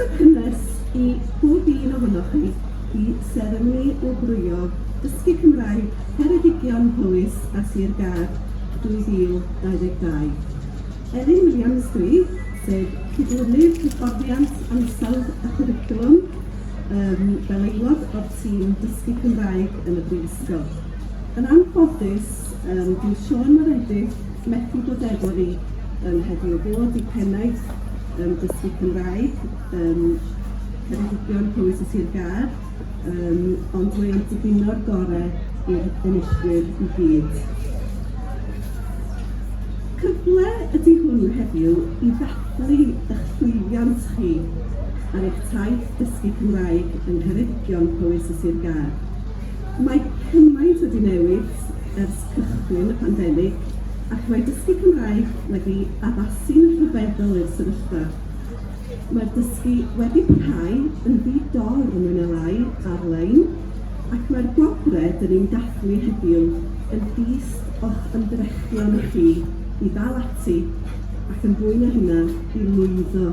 Cynnes i bob un ohonoch chi i seremoni wobrwyo Dysgu Cymraeg Ceredigion, Powys a Sir Gâr 2022. Elin Williams dw i, sef Cydlynydd Hyfforddiant Ansawdd a Chwricwlwm um, fel aelod o'r tîm Dysgu Cymraeg yn y Brifysgol. Yn anffodus, um, dyw Siôn Moredydd methu bod efo ni um, heddiw fod i pennaeth yym dysgu Cymraeg yn Ceredigion, Powys a Sir Gâr, yym ond mae o'n dibino'r gore i'r enillwyr i gyd. Cyfle ydy hwn heddiw i ddathlu eich llwyddiant chi ar eich taith dysgu Cymraeg yn Ngheredigion, Powys a Sir Gâr. Mae cymaint wedi newid ers cychwyn y pandemig, ac mae dysgu Cymraeg wedi addasu'n rhyfeddol i'r sefyllfa. Mae'r dysgu wedi parhau yn ddi-dor mwy na lai ar-lein, ac mae'r gwobrau dyn ni'n dathlu heddiw yn dyst o'ch ymdrechion chi i ddal ati, ac yn fwy na hynna, i lwyddo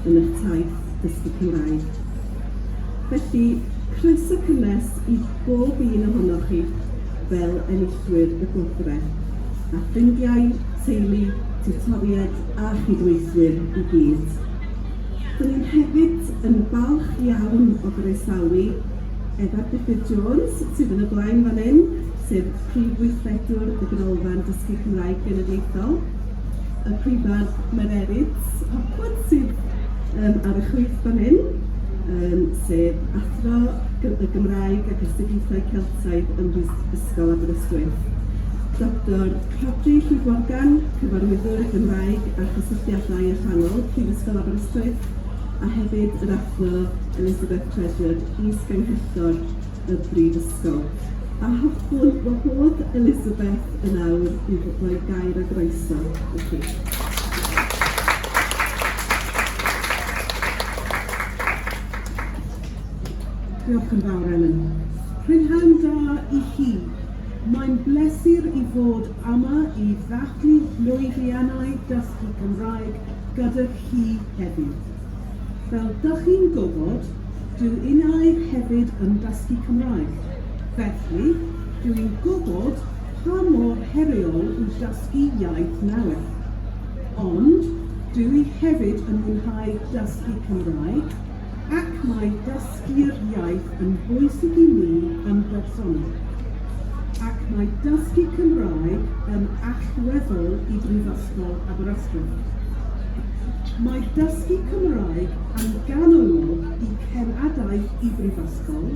yn eich taith dysgu Cymraeg. Felly, croeso cynnes i bob un ohonoch chi. fel enillwyr y gwobrau, a ffrindiau, teulu, tiwtoried a chydweithwyr i gyd. Dw i'n hefyd yn falch iawn o groesawu Efa Gruffydd Jones, sydd yn y blaen fan hyn, sef Prif Weithredwr y Ganolfan Dysgu Cymraeg Genedlaethol, y Prifardd Mererid Hopwood, sydd um, ar y chwith fan hyn, um, sef Athro y Gymraeg ac Astudiaethau Celtaidd saib ym Mhrifysgol Aberystwyth, Doctor Rhodri Llif Morgan, Cyfarwyddwr y Gymraeg a Chysylltiadau Allanol, Prifysgol Aberystwyth, a hefyd yr Athro Elizabeth Treasure, Is-Ganghellor y Brifysgol. A hoffwn wahodd Elizabeth yn awr i roi gair a groeso i chi. Diolch yn fawr, Elen. Prynhawn da i chi. Mae'n bleser i fod yma i ddathlu llwyddiannau dysgu Cymraeg gyda chi heddiw. Fel dych chi'n gwybod, dw innau hefyd yn dysgu Cymraeg, felly dw i'n gwybod pa mor heriol yw dysgu iaith newydd. Ond dw i hefyd yn mwynhau dysgu Cymraeg, ac mae dysgu'r iaith yn bwysig i mi yn bersonol, ac mae dysgu Cymraeg yn allweddol i Brifysgol Aberystwyth. Mae dysgu Cymraeg yn ganolog i cenadaeth y Brifysgol,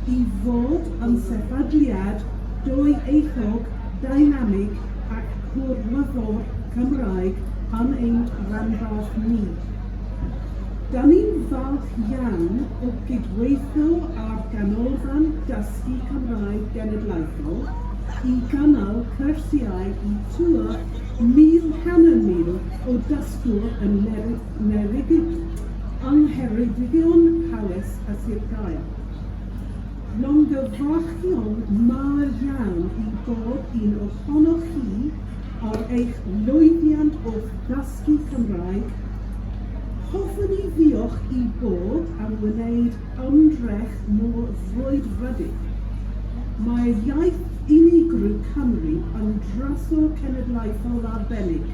i fod yn sefydliad dwyieithog, dynamig ac gwrlyddwr Cymraeg yn ein rhanbarth ni. Dan ni'n falch iawn o gydweithio â'r Ganolfan Dysgu Cymraeg Genedlaethol i gynnal cyrsiau i tua 1,000 hanner mil o dysgwr yn Ngheredigion, yng Ngheredigion, Powys a Sir Gaer. Llongyfarchion mawr iawn i bob un ohonoch chi ar eich lwyddiant o'ch dysgu Cymraeg. Hoffwn i ddiolch i bob am wneud ymdrech mor frwydfrydig. Mae'r iaith unigryw Cymru yn drysor cenedlaethol arbennig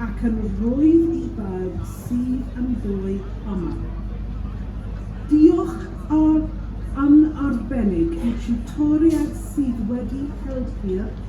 ac yn rwydd i bawb sydd ynddo'i yma. Diolch yn arbennig i Tutoriaid sydd wedi helpu'r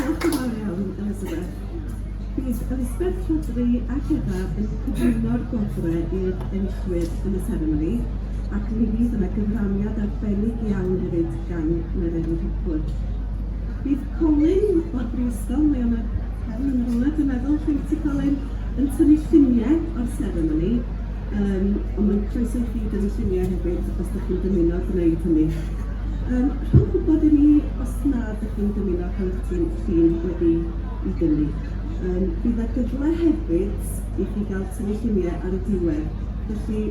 Diolch yn fawr iawn, Elizabeth. Bydd Elizabeth Rhodri ac Eva yn cyflwyno'r gwobrau i'r enillwyr yn y seremoni, ac mi fydd yna gyfraniad arbennig iawn hefyd gan Mererid Hopwood. Bydd Colin o'r Brifysgol, mae yna Helen yn yr olwg, dwi'n meddwl, lle wyt ti Colin, yn tynnu lluniau o'r seremoni, um, ond mae'n croeso i chi dynnu lluniau hefyd os ydych chi'n dymuno gwneud hynny. Um, rhowch gwybod i ni os na dych chi'n dymuno helpu sydd wedi i dynnu. Yym bydd 'na gyfle hefyd i chi gael tynnu lluniau ar y diwedd, felly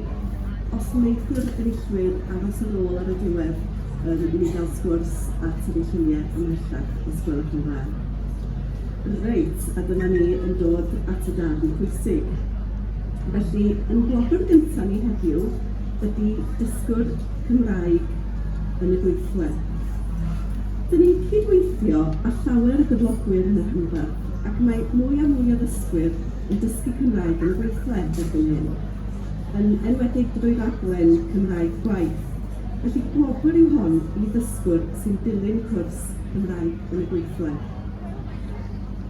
os wneithwr enillwyr aros ar ôl ar y diwedd yym i ni gael sgwrs a tynnu lluniau ymhellach, os gwelwch yn dda. Reit, a dyma ni yn dod at y darn pwysig. Felly, yn gwobr gyntaf ni heddiw ydy dysgwr Cymraeg yn y gweithle. Dyn ni'n cyd-weithio â llawer o gyflogwyr yn y rhanbarth ac mae mwy a mwy o ddysgwyr yn dysgu Cymraeg yn y gweithle erbyn hyn, yn enwedig drwy raglen Cymraeg Gwaith. Felly gwobr yw hon i ddysgwr sy'n dilyn cwrs Cymraeg yn y gweithle.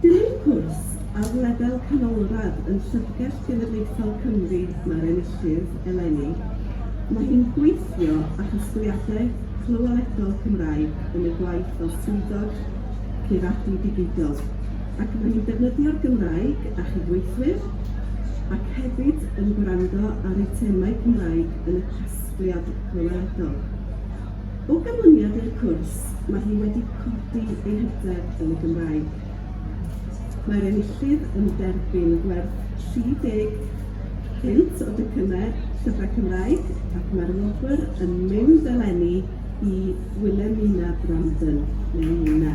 Dilyn cwrs ar lefel canolradd yn Llyfrgell Genedlaethol Cymru mae'r enillydd eleni. Mae hi'n gweithio â chasgliadau clywaledol Cymraeg yn ei gwaith fel swyddog Ceiradu Digidol ac mae hi'n defnyddio'r Gymraeg â chydweithwyr ac hefyd yn gwrando ar eitemau Cymraeg yn y casgliad clywaledol. O ganlyniad i'r cwrs, mae hi wedi codi ei hyder yn y Gymraeg. Mae'r enillydd yn derbyn gwerth 30 punt o docynnau Llyfrau Cymraeg ac mae'r wobr yn mynd eleni i Willemina Brandon, neu Nina.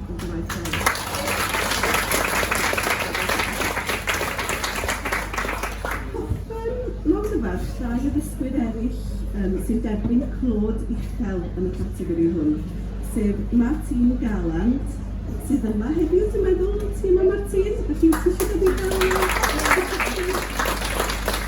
Llongyfarch, llai o ddysgwyr eraill yym sy'n derbyn clod uchel yn y categori hwn, sef Martine Garland, sydd yma heddiw dwi'n meddwl, ti yma Martine? Felly os ti isio dod i ddangos dy fenthyg.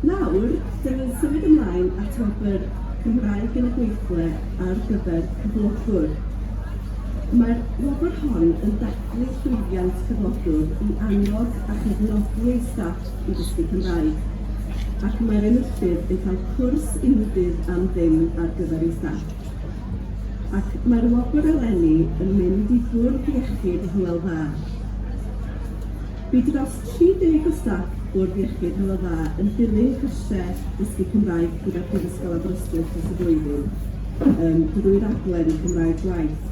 Nawr, dw i'n symud ymlaen at wobr 'Cymraeg yn y Gweithle' ar gyfer cyflogwr. Mae'r wobr hon yn dathlu llwyddiant cyflogwr i annog a chefnogi ei staff i ddysgu Cymraeg, ac mae'r enillydd yn cael cwrs unigryw am ddim ar gyfer ei staff. Ac mae'r wobr eleni yn mynd i Bwrdd Iechyd Hywel Dda. Bydd dros 30 o staff Bwrdd Iechyd Hywel Dda yn dilyn cyrsiau dysgu Cymraeg gyda Phrifysgol Aberystwyth dros y flwyddyn um, drwy raglen Cymraeg Gwaith.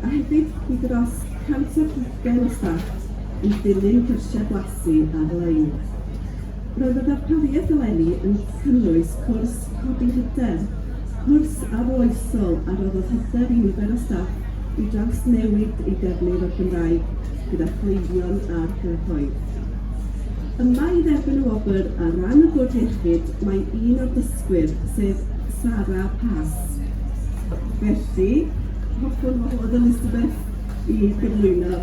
A hefyd, bydd dros 120 o staff yn dilyn cyrsiau blasu ar-lein. Roedd y ddarpariaeth eleni yn cynnwys cwrs codi hyder, cwrs arloesol a roddodd hyder i nifer o staff i drawsnewid eu defnydd o'r Gymraeg gyda chleifion a'r cyhoedd. Yma i dderbyn y wobr ar ran y Bwrdd Iechyd mae un o'r dysgwyr, sef Sara Pass. Felly, hoffwn wahodd Elizabeth i gyflwyno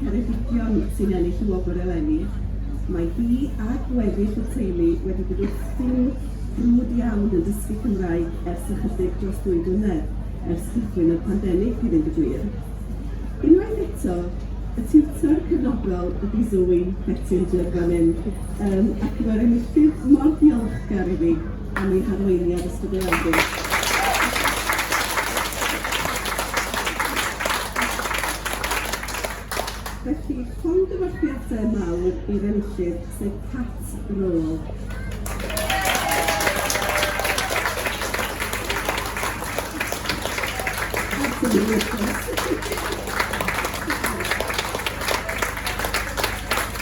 Ceredigion sy'n ennill y wobr eleni. Mae hi a gweddill y teulu wedi bod wrthi'n frwd iawn yn dysgu Cymraeg ers ychydig dros ddwy flynedd, ers cychwyn y pandemig i fynd y gwir. Unwaith eto, y tiwtor cefnogol ydi Zoe Bettinger fan hyn, yym ac mae'r enillydd mor ddiolchgar iddi. am ein harweiniad ysbrydoledig. Felly, llongyfarchiadau mawr i'r enillydd, sef Cat Rowe. Thank you.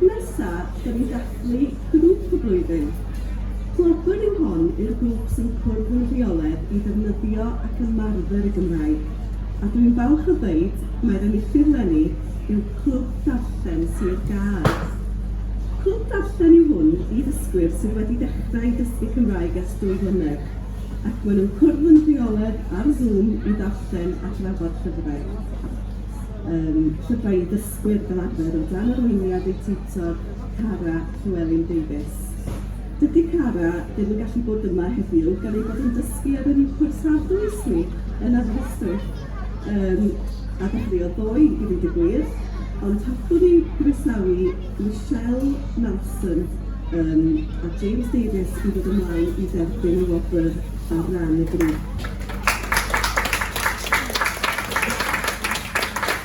Nesa, da ni'n dathlu Grŵp y Flwyddyn. Gwobr yw hon i'r grŵp sy'n cwrdd yn rheoledd i ddefnyddio ac ymarfer y Gymraeg, a dw i'n falch o ddeud mai'r enillydd 'leni yw Clwb Darllen Sir Gâr. Clwb Darllen yw hwn i ddysgwyr sydd wedi dechrau dysgu Cymraeg ers dwy flynedd, ac maen nhw'n cwrdd yn rheoledd ar Zoom i ddarllen a drafod llyfrau, yym llyfrau i ddysgu. dysgwyr fel arfer o dan arweiniad eu tiwtor Cara Llewelyn Davies. Dydy Cara ddim yn gallu bod yma heddiw gan ei bod yn dysgu ar yr Uwch Orsaf Ddwysni yn Aberystwyth yym a dechreuodd ddoe i ddeud y gwir, ond hoffwn i groesawu Michelle Malson yym a James Davies i ddod ymlaen i dderbyn y wobr ar ran y grŵp.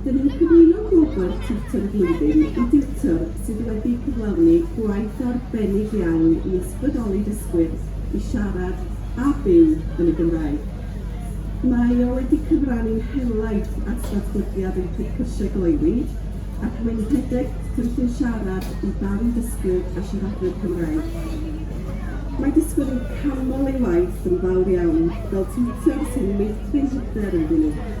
Dyn ni'n cyflwyno Gwobr Tiwtor y Flwyddyn i diwtor sydd wedi cyflawni gwaith arbennig iawn i ysbrydoli dysgwyr i siarad a byw yn y Gymraeg. Mae o wedi cyfrannu'n helaeth at ddatblygiad ein Clwb Cyrsiau Gloywi ac mae'n rhedeg cynllun siarad i barn dysgwyr a siaradwyr Cymraeg. Mae dysgwyr yn canmol ei waith yn fawr iawn fel tiwtor sy'n meithrin hyder ynddyn nhw.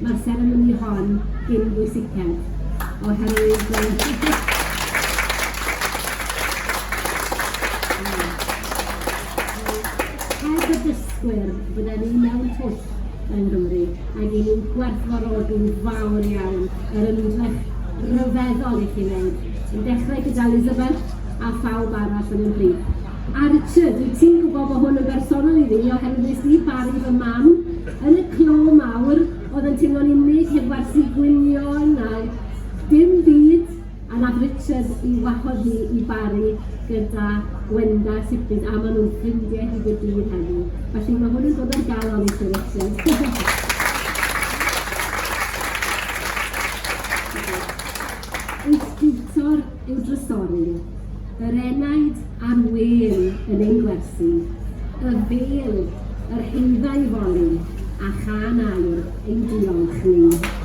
ma'r seremoni hon gin bwysiced, oherwydd yy heb y dysgwyr, bydden ni mewn twll yng Nghymru, ac i ni'n gwerthfawrogi'n fawr iawn yr ymdrech ryfeddol i chi wneud, yn dechrau gyda Elizabeth a phawb arall yn ymhlith. A Richard, wyt ti'n gwybod bod hwn yn bersonol i fi, oherwydd nes i baru fy mam yn y clo mawr oedd yn teimlo'n unig heb werthu gwynion a dim byd, a nath Richard i wahodd hi i baru gyda Gwenda a Sigrid a maen nhw'n ffrindiau hyd y dydd heddiw. Felly mae hwn yn dod ar galon i ti Richard. yw drysori, yr enaid a'r wên yn ein gwersi, y fêl, yr heudda i foli, a chân aur ein diolch ni.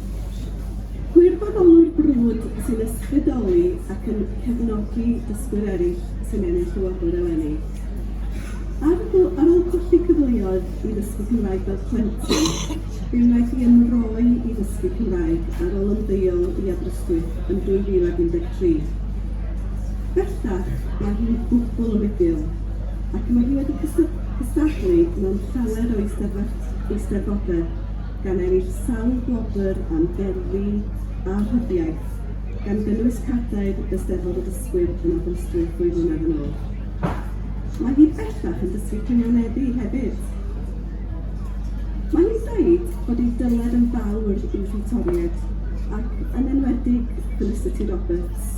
Gwirfoddolwr brwd sy'n ysbrydoli ac yn cefnogi dysgwyr eraill sy'n ennill y wobr eleni. Ar ôl ar ôl colli cyfleoedd i ddysgu Cymraeg fel plentyn, fe wnaeth hi ymroi i ddysgu Cymraeg ar ôl ymddeol i Aberystwyth yn 2013. Bellach, mae hi'n gwbl rugl ac mae hi wedi cystadlu mewn llawer o eisteddfodau. gan ennill sawl gwobr am gerddi a rhyddiaith, gan gynnwys cadair Eisteddfod y Dysgwyr yn Aberystwyth ddwy flynedd yn ôl. Mae hi bellach yn dysgu cynghaneddu hefyd. Mae hi'n dweud bod ei dyled yn fawr i'w thiwtoriaid, ac yn enwedig Felicity Roberts,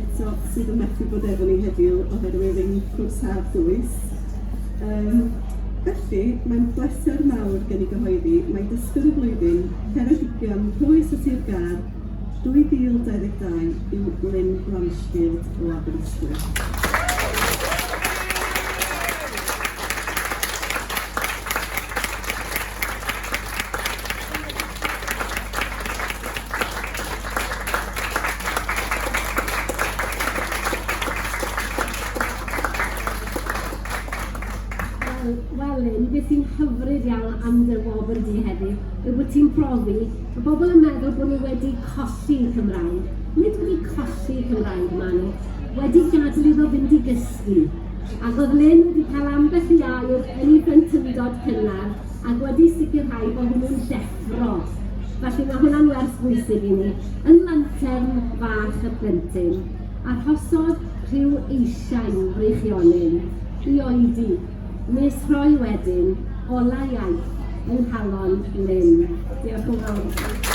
eto sydd yn methu bod efo ni heddiw oherwydd ein cwrs haf dwys. Um, Felly, mae'n bleser mawr gen i gyhoeddi mai Dysgwr y Flwyddyn, Ceredigion, Powys a Sir Gâr 2022 yw Lynne Blanchfield o Aberystwyth. Wel, wel Lynne, be sy'n hyfryd iawn am dy wobr di heddi yw bod ti'n profi y bobl yn meddwl bod ni wedi colli Cymraeg. Nid wedi colli Cymraeg, maen nhw wedi gadw iddo fynd i gysgu. Ac oedd Lynne wedi cael ambell i air yn ei blentyndod cynnar ac wedi sicrhau bod hwnnw'n deffro. Felly mae hwnna'n wers bwysig i ni, yn lantern fach y plentyn. Arhosodd rhyw eisiau'n freichiolyn i oedi, nes rhoi wedyn olau iaith yng nghalon Lynne. Diolch yn fawr i chi.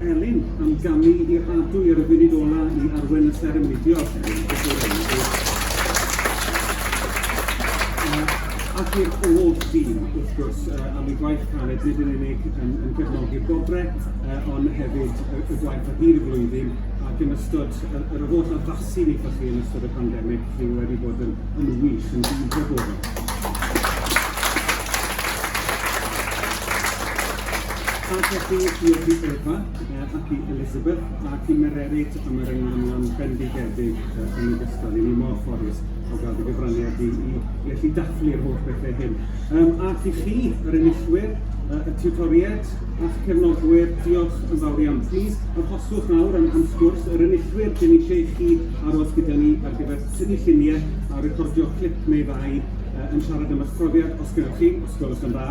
Elin am gamu i'r adu ar y funud ola i arwen y seremoni. Diolch Elin. Ac i'r holl dîm, wrth gwrs, am y gwaith caled, nid yn unig yn, yn gefnogi'r gobre, ond hefyd y, y gwaith ar hyd y flwyddyn ac yn ystod yr holl addasu ni chi yn ystod y pandemig, chi wedi bod yn, yn wych, yn dîm bobl. A felly, diolch i Eva uh, ac i Elizabeth ac i Mererid am yr ynglwynion bendigedig uh, yn y gystal. I ni mor ffodus o gael dy gyfraniad i, i, i allu dathlu'r holl bethau hyn. Um, ac i chi, yr enillwyr, uh, y tutoriaid a'ch cefnogwyr, diolch yn fawr iawn. Plis, arhoswch nawr am, am sgwrs yr enillwyr dyn ni eisiau chi aros gyda ni ar gyfer tynnu lluniau a recordio clip neu ddau uh, yn siarad am eich profiad, os gennych chi, os gwelwch yn dda.